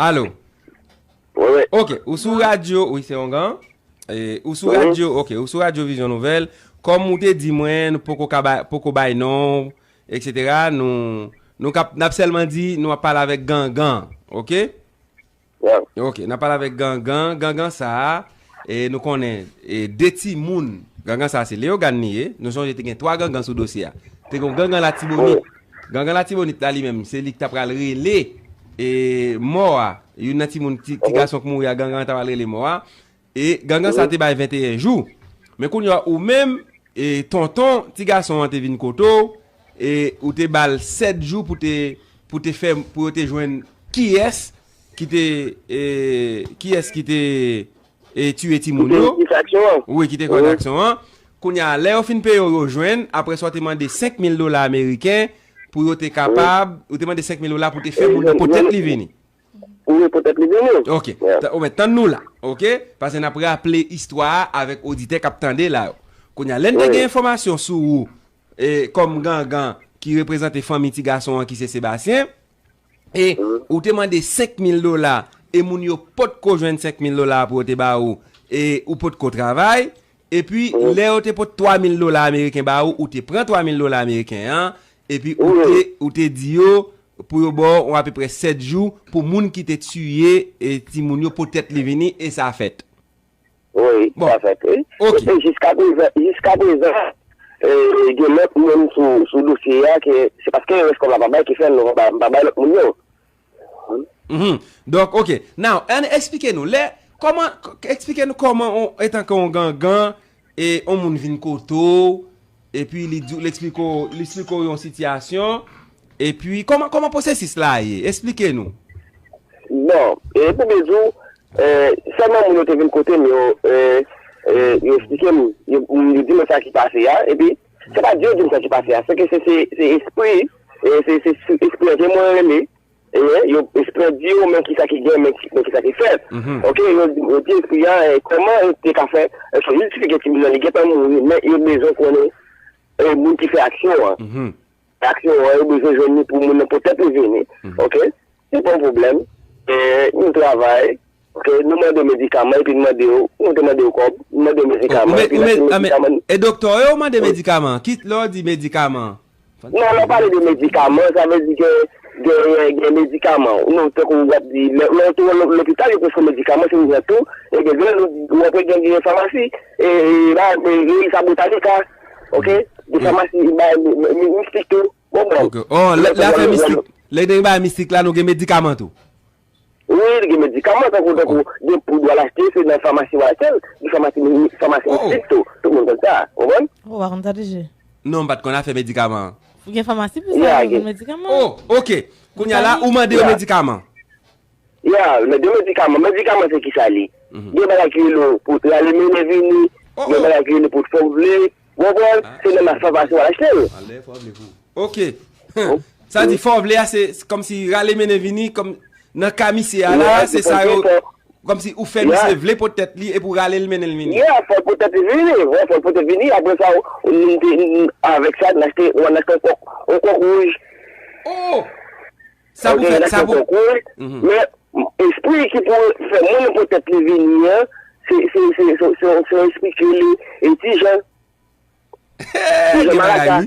Alo Ok, ou sou radyo Ou se yon gan Ou sou radyo, ok, ou sou radyo Vizyon Nouvel Kom ou te di mwen, poko bay non Etc nou Nou kap nap selman di nou ap pale avek gangan ok ok nap pale avek gangan gangan sa e nou konnen e de ti moun gangan sa se leogane li ye nou sonje te gen 3 gangan sou dosye a te gen gangan la tibonit gangan la tibonit la li menm se li ki ta pral rele e mò a youn nan ti moun ti gason ki mouri a gangan ta pral rele mò a E gangan sa te bay 21 jou. Men kounye a ou menm, e tonton ti gason an te vin kote w, e ou te ba l 7 jou pou te, pou te fè, pou yo te jwenn kiyès ki te, e kiyès ki te e tiye timoun yo. Ki te kòz aksyon an. Wi, ki te kòz aksyon an. Kounye a, lè yo fin peye w, yo jwenn, apre sa ou te mande 5000 dola ameriken pou yo te kapab, ou te mande 5000 dola pou te fè moun nan pote tèt li vini. Wi, poutèt li beni w. Ok. Ou mèt tann nou la. Ok. Pase n ap raple istwa a avèk oditè k ap tande la yo. Kounye a, lè n te gen enfòmasyon sou ou e kòm gangan ki reprezante fanmi ti gason an ki se Sebastien e ou te mande 5000 dola e moun yo potko jwenn 5000 dola pou yo te ba ou e ou potko travay Epi, lè yo te pot 3 mil dola ameriken ba ou, ou te pran 3 mil dola ameriken an, epi ou te di yo pou yo ba w yon apeprè 7 jou pou moun ki te tiye timoun yo poutèt li vini, e sa fèt. Wi, sa fèt. E jiska prezan, jiska prezan, gen lòt moun sou dosye a ke se paske rès kòb la pa bay ki fè nou pa bay lòt moun yo. Mph donk ok now ann esplike nou lè kòman esplike nou kòman on etanke on gangan e on moun vin kote w epi li di w li esplike w li esplike w yon sitiyasyon epi kòman kòman pwosesis la ye esplike nou. Bon e pou byen di w e sèlman moun yo te vin kote m yo e yo esplike m yo di mwen sa ki pase a epi Se pa Dye dim sa ki pase a se ke se se espri e se se espri an ke mwen rele e yo espri an di yo men ki sa ki gen men ki sa ki fèt ok yo di espri an kòman yo te ka fè eske yo ti fike timoun nan li gentan mouri men yo bezwen konnen e moun ki fè aksyon an aksyon an yo bezwen jwenn ni pou moun nan pou tèt li vini ok. Se pa yon pwoblèm. Nou travay. Nou mande medikaman epi nou mande yo. Nou te mande yo kòb. Nou mande yo medikaman epi lè se medikaman. E doktè yo ou mande medikaman an? Kit lè ou di medikaman. Non, lè ou pale de medikaman, sa vle di ke gen medikaman. Non, tankou ou ap di, lè ou te wè lopital yo preskri medikaman, se ou jwenn tou. E gen lè ou ap wè gen yon famasi. E sa Botanica. Ok? Yon famasi, yon mistik tou. Ok oh lè lè afè mistik lè gen bagay mistik la nou gen medikaman tou. Wi gen medikaman tankou tankou gen poud wal achte se nan famasi wal achèl gen famasi famasi mistik tou tout moun konn sa ou konprann. Ou pa konn sa toujou. Non m pat konn afè medikaman an. Gen famasi pou sa yo vin medikaman. Oh ok kounya la ou mande yo medikaman. Ya, men de medikaman, medikaman se kisa li? Gen bagay ki rele w pou rale mennen vini, gen bagay ki rele pou fòk vle, ou konprann? Se nan mas fafasi w al achte l. Ok, sa di fòk vle a se kòm si rale mennen vini, kòm nan ka misye a la, se sa yo, kòm si ou fè misye vle pot tèt li epi w rale l mennen l vini. Ya, fòk pot tèt li vini, fòk pot tèt li vini, aprè sa avèk sa n achte, ou al achte yon kòk, yon kòk wouj. Oh! Sa pou fè, sa pou. Men, espri ki pou fè moun nan pou tèt li vini an, se, se, se, se, se yon espri ki rele e ti jan. Ti jan maraka.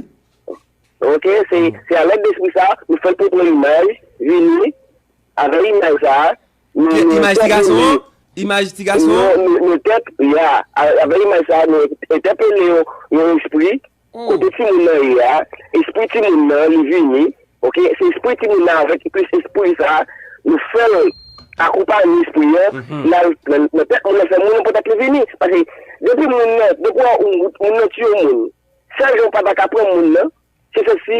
Ok, se, se a lèd de espri sa, nou fè l pou pran imaj, vini, avè imaj sa, nou, nou. Imaj ti gason an? Imaj ti gason an? Nou, nou, nou tèt, ya, avè imaj sa, nou entèpele yon, yon espri, Kote ti moun nan ye a espri ti moun nan li vini ok se espri ti moun nan avèk plis espri sa nou fèl akonpanye espri an li al nan tèt moun nan fè moun nan poutèt li vini paske depi moun nan depi moun nan tiye moun sèl jan ou pata ka pran moun nan se se si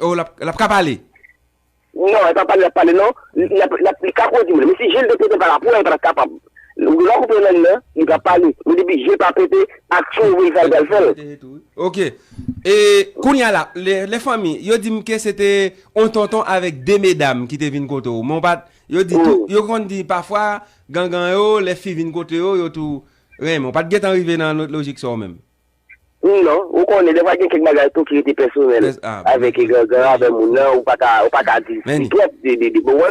Oh lap ka pale. Non epa pale lap pale non li ka koze moun men si jel te pete pala pouw pat kapab ou genlè koupe lang nan li pap pale men depi jel pa pete aksyon ou vle fel pral fel. Ok e kounya la le fanmi yo dim ke se te on tonton avek de medam ki te vin kote ou men ou pat yo di tou yo konn di pafwa gangan yo le fi vin kote yo yo tou renmen ou pat gentan rive nan lojik sa ou menm. Non, ou konnen defwa gen kèk bagay tou ki rete pèsonèl avèk gangan avèk moun nan, ou paka ou paka di twòp de de bon wè,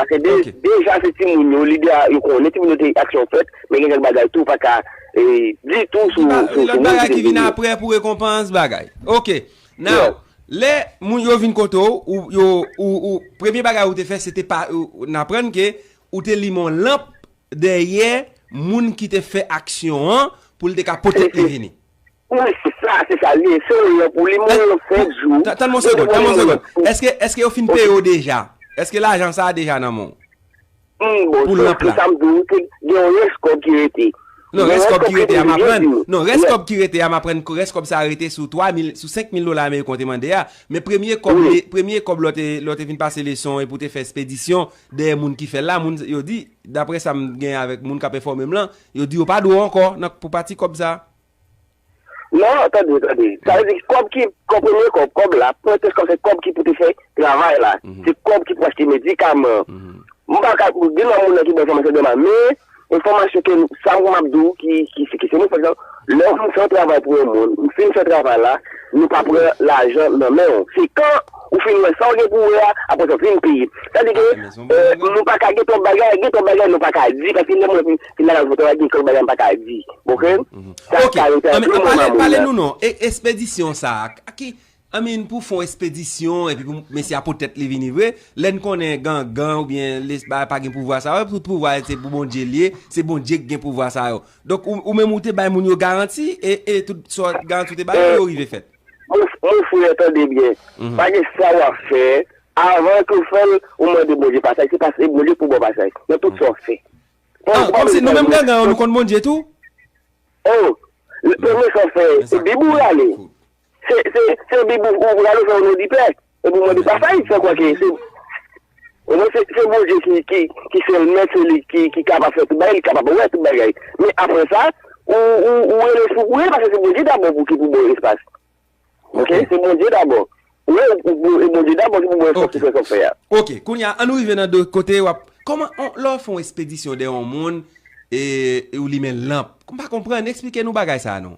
paske deja se timoun yo li deja yo konnen timoun yo te aksyon fèt, men gen kèk bagay tou ou paka di tou sou moun ki te vini yo. Ki vin aprè pou rekonpans bagay. Ok, now lè moun yo vin kote ou, ou yo ou premye bagay ou te fè se te pa ou aprann ke ou te limen yon lanp Dèyè moun ki te fè aksyon an pou l te ka pote li vini. Wi, se sa, se sa li ye. Se yon lè pou li mouri nan senk jou. Tann m yon segonn, tann m yon segonn. Èske yo fin peye w deja? Èske lajan sa a deja nan men w? Wi, bon, se sa m di w, gen yon rès kòb ki rete. Non, rès kòb ki rete a m aprann. Non, rès kòb ki rete a m aprann ke rès kòb sa a rete sou 3000, sou 5000 dola ameriken w te mande a. Men premye kòb, premye kòb lè w te vin pase leson epi w te fè espedisyon, Dèyè moun ki fè l la, moun yo di, daprè sa m gen avèk moun k ap enfòme m lan, yo di yo pa dwe ankò nan pou pati kòb sa. Non, tande, tande. Sa vle di kòb ki, kòb premye kòb, kòb la, pwen kès kòb se kòb ki pou te fè travay la. Se kòb ki pou achte medikaman. M pa ka, gen nan moun nan ki ban enfòmasyon de m a, men. Enfòmasyon ke nou, sa ou map di ou ki seke se nou pa egzanp, lè ou fin fè yon travay pou yon moun, ou fin fè travay la, nou pa pran lajan nan men ou. Se kan ou fin wè sa ou gen pou wè a, apre sa ou vin peye. Sa di ke nou pa ka gen twòp bagay, gen twòp bagay nou pa ka di, paske lè mwen fin la nan yon travay gen twòp bagay mpa ka di. Ok, ok, pale nou nan espedisyon sa a, I mean pou fon espedisyon epi pou mesye a pot tèt li vini vre, lèn konnen gangan oubyen les bagay pa gen pouvwa sa yo, tout pouvwa yo se pou Bondye li ye, se Bondye ki gen pouvwa sa yo. Donk ou menm ou te bay moun yo garanti e e tout sa garanti ou te ba yo yo rive fèt. Mon frè tande byen, pa gen sa wap fè avan ke w fèl ou mande Bondye pasaj, se pas e Bondye ki pou baw pasaj nan tout sa wap fè. Ah komsi nou menm gangan yo nou konn Bondye tou? Oh, premye sa w fè se bib ou rale? Se bib ou pral ouvè onon di pè e pou mande pa fayit san kwa ke se Bondye ki sèl mèt se li ki kapab fè tout bagay li kapab wè tout bagay men aprè sa ou rele sou priye paske se Bondye dabò pou ki pou baw espas ok se Bondye dabò e Bondye dabò ki pou baw espas pou fè sa wap fè a. Ok kounya an nou rive nan de kote wap kòman lè wap fè yon espedisyon dèyè yon moun e ou limen lanp m pa konprann esplike nou bagay sa non.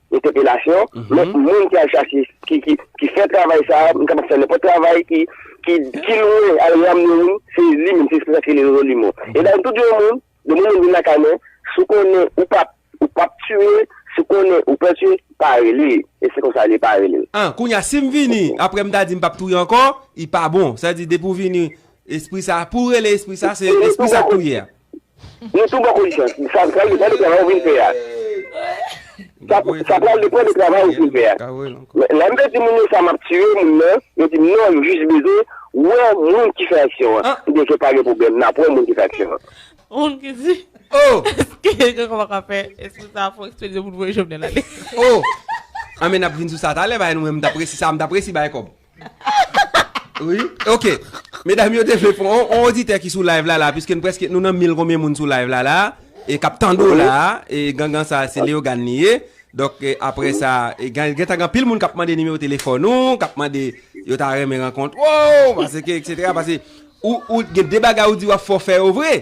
entèpelasyon, men moun ki al chache, ki fè travay sa a, moun kapab fè nenpòt travay ki lwen al ramne moun, se li menm, se esprè sa ki rele Jeronimo. E dan tout yon moun, yon moun vin lakay mwen, si w konnen ou p ap tiye, si w konnen ou pè tiye, pa rele. E se konsa li pa rele. An, kounye a, si m vini, apre m ta di m p ap touye ankò, li pa bon. Sa vle di depi w vini, espri sa a, pou w rele espri sa a, se espri sa k touye a. Nou tou bò konjisans. Sa pral depan de travay ou vin fè a. Sa pral depan de travay ou vin fè a. Lè m te di moun yo sa m ap tiye moun nan, yo di m non, yo jis bezwen wè moun ki fè aksyon an. M di ok, pa gen pwoblèm, n ap wè moun ki fè aksyon an. Moun ki di, Èske gen kòman k ap fè espri sa a fon eksplozyon pou n voye Jovenel ale? O! Anben n ap vin sou sa talè, bay nou men m t ap resi sa a, m t ap resi bay kòb. Wi ok Medam yo te vle pran on oditè ki sou live la la Piske n preske nou nan mil konbyen moun sou live la la E kap tande w la E gangan sa se Leogane li ye Donk apre sa Gen tan gen anpil moun kap mande nimewo telefòn ou Kap mande Yo ta renmen rankont w Pase ke etc Pase Ou gen de bagay ou di wap fè w fè yo vre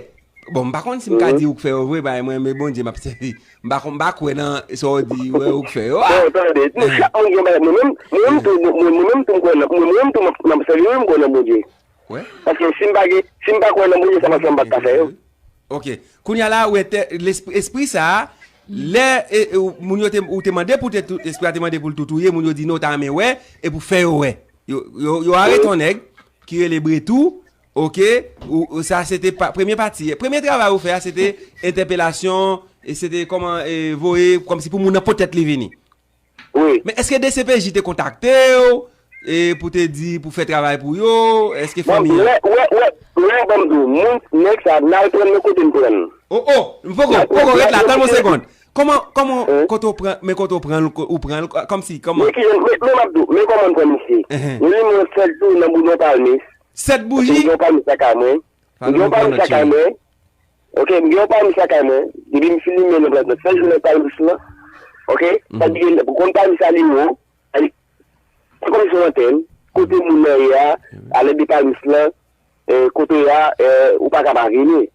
Bon m pa konn si m ka di ou k fè yo vre paske mwen menm e Bondye m ap sèvi. M pa konn m pa kwè nan sa w di ou wè ou k fè yo a. Bon tande, nou chak moun gen bagay, mwen menm mwen menm tou mwen mwen menm tou m kwè nan mwen menm tou m ap sèvi wi m kwè nan Bondye. Paske si m pa gen si m pa kwè nan Bondye sa m ap fè m pa t ka fè yo. Ok, kounye a la ou entè lespri espri sa a lè e ou moun yo te ou te mande pou te espri a te mande pou l tou touye moun yo di non ou ta renmen wè e pou fè yo wè. Yo yo arete yon nèg ki rele Bretou Ok ou sa se te premye pati premye travay ou fè a se te entèpelasyon e se te kòman e voye kòm si pou moun nan potèt li vini wi men eske dcpj te kontakte ou e pou te di pou fè travay pou yo eske fanmi an bon wè wè wè wè banm di w moun nèg sa nal prann yo kote m prann o o poko poko ret la tann m yon segond kòman kòman kote w pran men kote w pran ou pran l kòm si kòman men ki jan men map di w men kòman m pran misye men li mwen fèl tou nan boulon palmis 7 bouji? Mgen yon pami sa kay mwen. Mgen yon pami sa kay mwen. Ok, mgen yon pami sa kay mwen. Depi m fin limen lanp la nan sèl jounen palmis lan. Ok, sa di gen, konn pami sa li wo. Se konm si w antre, kote moun nan ye a, a lèt de palmis lan, kote ya, ou pa ka pa vini.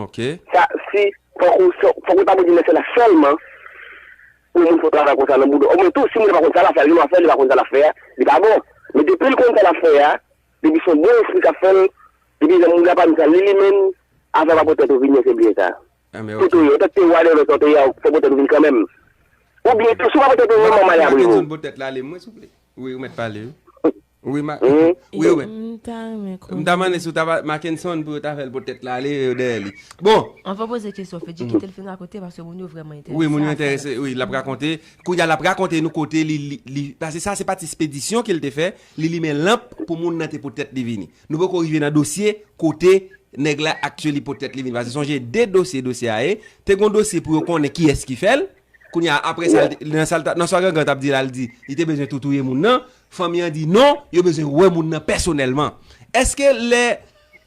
Ok. Sa si fok ou fok ou ta mete lèsè la sèlman pou moun fè travay konsa nan bouda ou men tou si moun nan pa konn sa lap fè li lwa fè li pa konn sa lap fè a li pa bon men depil konn sa lap fè a depi son bon espri kap fèl depi lè moun nan pa di sa li li menm afè pa pou tèt ou vini se byen sa tout ou ye ou tèt te wale lòt lòt ou ye a fò pou tèt ou vin kanmenm ou byen tou si ou pa pou tèt ou vin manman li aprev ou. Mwen pa tande zòn pou tèt la ale mwen souple wi ou mèt pale wi. Wi ma wi yo menm. M ta renmen konnen. M ta mande si w ta pale Mackenson pou yo ta fè l pou tèt la ale yo dèyè li. Bon. An fè w poze kesyon Fedji kite l fin rakonte paske moun yo vrèman enterese a sa l ap di. Wi moun yo enterese wi l ap rakonte. Kounye a l ap rakonte nou kote li li pase sa se pati spedisyon ke l te fè li limen lanp pou moun nan te pou tèt li vini. Nou poko rive nan dosye kote nèg la aktyeli pou tèt li vini. Pase sonje 2 dosye dosye a ye te gon dosye pou yo konnen kiyès ki fè l. Kounye a, apre sa, nan sa Gangan t ap di la, li di li te bezwen tou touye moun nan, fanmi an di non, yo bezwen wè moun nan pèsonèlman. Eske lè,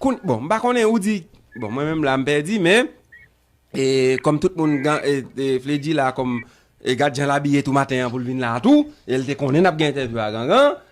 bon, m pa konnen, ou di, bon, mwen menm la m pèdi, men, e, kòm tout moun, e, Fledjy la, kòm, e gad jan l abiye tou maten an pou l vin la tou, e l te konnen n ap gen entèvyou a Gangan,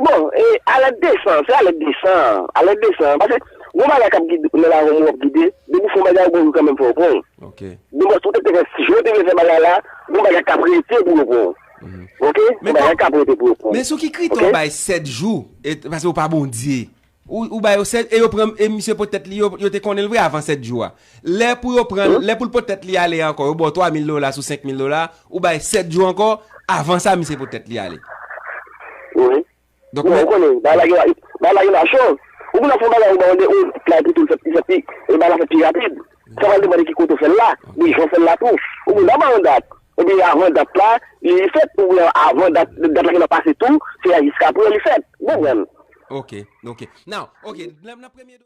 Bon e alèt desan, se alèt desan, alèt desan, pase gon bagay kap gide ou lè la gon mou ap gide, depi fon bagay ou gon jou kanmenm fè ou pranl, bon pase ou te fè si jan ou te vle fè bagay la, gon bagay kap rete pou yo pranw ok, gon bagay kap rete pou yo pranw ok. Men sou ki kritè ou bay 7 jou, e pase ou pa Bondye. Ou ba yo 7 e yo pran e misye pot tèt li yo yo te konnen l vre avan 7 jou a. Lè pou yo pran l, lè pou l pot tèt li ale a ankò yo ba w 3 mil dola sou 5 mil dola, ou bay 7 jou ankò avan sa misye pot tèt li ale. Wi. Donk men. Ou konnen bagay la gen bagay la gen machann. Ou konn lè w fè yon bagay yo ba w 2 ou bay pou tou l fè pi e bagay la fèt pi rapid. Sa pral depann de ki kote ou fè l la, de jan ou fè l la tou. Ou gen dwa bay yon dat, epi avan dat la li fèt oubyen avan dat dat la gentan pase tou, se jiskaprè li fèt. Ou konprann? Ok, ok. Now, ok, nan premye.